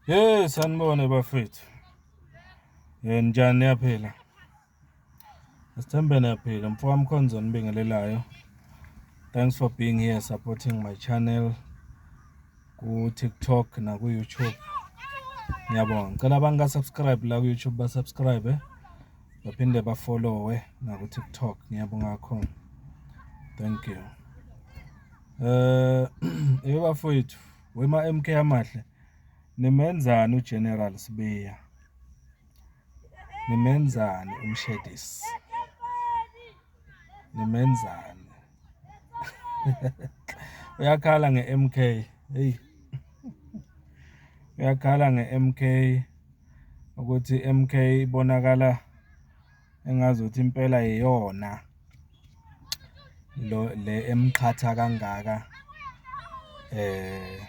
Hey sanibone bafethu. Eh njani yaphila? Sithembe niyaphila mfo wami khonzo nibingelelayo. Thanks for being here supporting my channel ku TikTok na ku YouTube. Ngiyabonga. Ngicela abantu ka subscribe la ku YouTube ba subscribe eh. baphinde ba follow eh na ku TikTok. Ngiyabonga kakhulu. Thank you. Eh uh, ebafowethu Wema MK amahle nimenzani uGeneral Sibiya nimenzani umshedisi nimenzani uyakhala nge-MK hey uyakhala nge-MK ukuthi MK ibonakala engazuthi impela iyona lo le emqhatha kangaka eh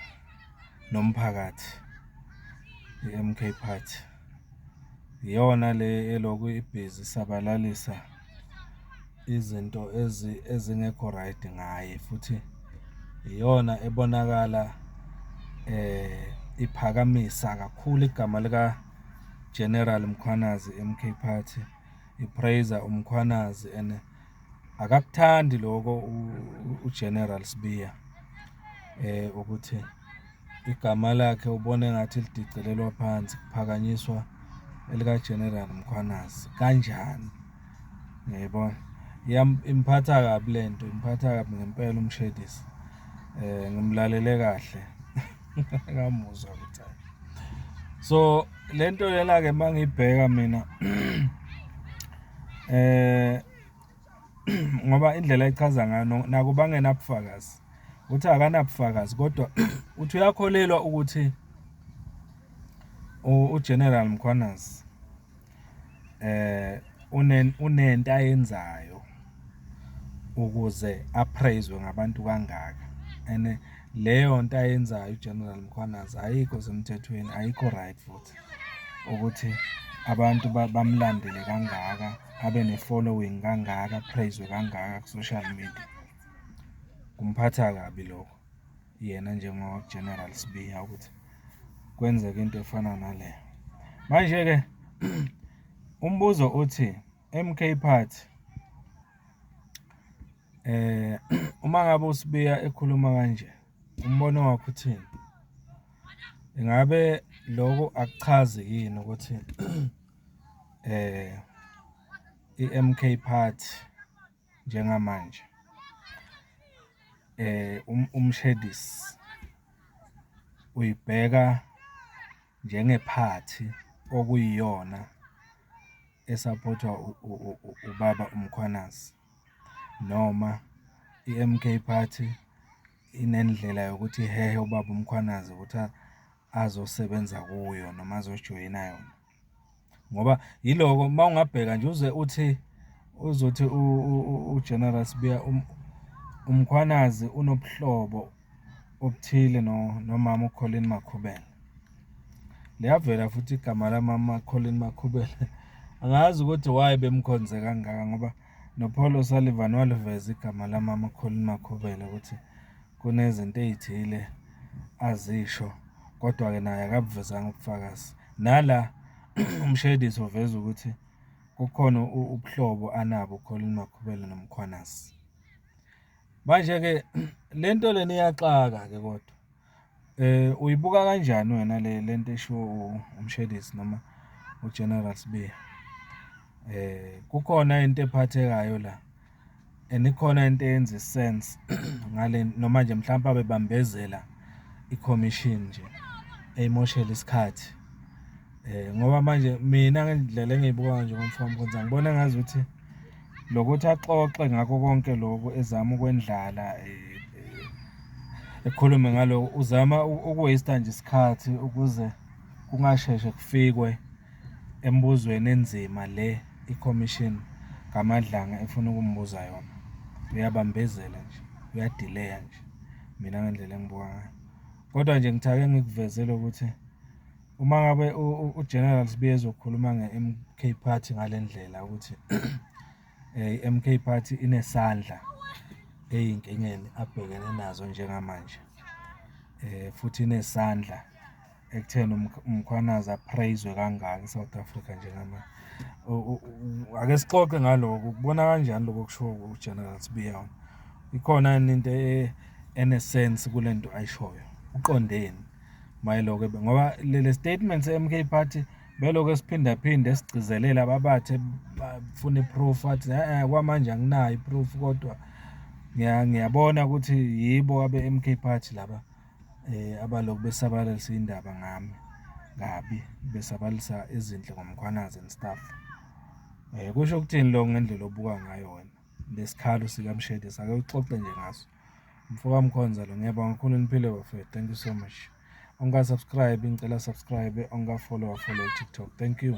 nomphakathi iMK Party iyona le eloku ibhizi sabalalisa izinto ezi ezingekho right ngaye futhi iyona ebonakala eh iphakamisa kakhulu igama lika General Mkhwanazi MK Party ipraiser uMkhwanazi and akakuthandi lokho uGeneral Sibiya eh ukuthi igama lakhe ubona engathi lidicilelwa phansi kuphakanyiswa elika General Mkhwanazi kanjani ngiyibona imphatha kabi lento imphatha kabi ngempela umshedisi eh ngimlalele kahle ngamuzwa ukuthi so lento yela ke mangibheka mina eh ngoba indlela echaza ngayo naku bangena ubufakazi uthi akanabufakazi kodwa uthi uyakholelwa ukuthi uGeneral Mkhwanazi eh unento ayenzayo ukuze apraiswe ngabantu kangaka and leyo nto ayenzayo uGeneral Mkhwanazi ayikho semthethweni ayikho right futhi ukuthi abantu bamlandele kangaka abe ne-following kangaka apraiswe kangaka ku-social media kumphatha kabi lokho. yena njengo-General Sibiya ukuthi kwenzeke into efana nale. Manje-ke umbuzo uthi MK Party eh uma ngabe uSibiya ekhuluma kanje umbono wakho uthini? Ingabe lokho akuchazi yini ukuthi eh i-MK Party njengamanje uMshedisi uyibheka njengephathi okuyiyona esaphothwa ubaba uMkhwanazi noma i-M_K party inendlela yokuthi ihehe ubaba uMkhwanazi ukuthi azosebenza kuyo noma azojoyina yona. ngoba yiloko uma ungabheka nje uze uthi uzothi ugeneral sibiya um, umkhwanazi unobuhlobo obuthile nomama ukholeni makhubela liyavela futhi igama lamama Colin Makhubele angazi ukuthi why bemkhonze kangaka ngoba noPaul O'Sullivan waliveza igama lamama Colin Makhubele ukuthi kunezinto ey'thile azisho kodwa-ke naye akabuvezanga ubufakazi. Nala uMshedisi uveza ukuthi kukhona ubuhlobo anabo uColin Makhubele noMkhwanazi. Manje-ke le nto lena iyaxaka-ke kodwa. Eh uyibuka kanjani wena le lento eshiwo uMshedisi noma uGeneral Sibiya? Eh kukhona into ephathekayo la. And ikhona into eyenza sense ngale noma nje mhlawumbe abebambezela i-commission nje eyimoshela isikhathi eh ngoba manje mina ngendlela engiyibuka nje ngomfana konza ngibona ngazi ukuthi lokuthi axoxe ngakho konke lokho ezama ukwendlala eh, eh, ekhulume ngaloko uzama ukuwaste nje isikhathi ukuze kungasheshe kufikwe embuzweni enzima le ikhomishini kaMadlanga efuna ukumbuza yona. Uyabambezela nje, uyadileya nje mina ngendlela engibuka ngayo. Kodwa nje ngithake ngikuvezele ukuthi uma ngabe uGeneral Sibiya ezokhuluma nge-MK Party ngale ndlela ukuthi eh, i-MK Party inesandla eyinkingeni abhekene nazo njengamanje eh futhi inesandla ekutheni uMkhwanazi apraiswe kangaka eSouth Africa njengamanje. Ake sixoxe ngaloko ukubona kanjani lokho kushiwo uGeneral Sibiya. Ikhona yini into e, enesense kule nto ayishoyo? Uqondeni mayeloko ngoba le statement se-MK Party belokhu esiphindaphinde sigcizelela ababathe bafuna iproof athi eh kwamanje anginayo iproof kodwa ngiyabona ukuthi yibo abe-MK Party laba. Abaloku besabalalisa iy'ndaba ngami kabi, besabalisa ezinhle ngoMkhwanazi and stuff. Kusho ukuthini loko ngendlela obuka ngayo wena le sikhalo sikaMshedesi? Ake uxoxe nje ngaso. Mfoka Mkhonza lo, ngiyabonga kakhulu niphile bafethu, thank you so much. Ongaka-subscribe-i ngicela a-subscribe-e, ongaka-follow-a afollowe ku-TikTok, thank you.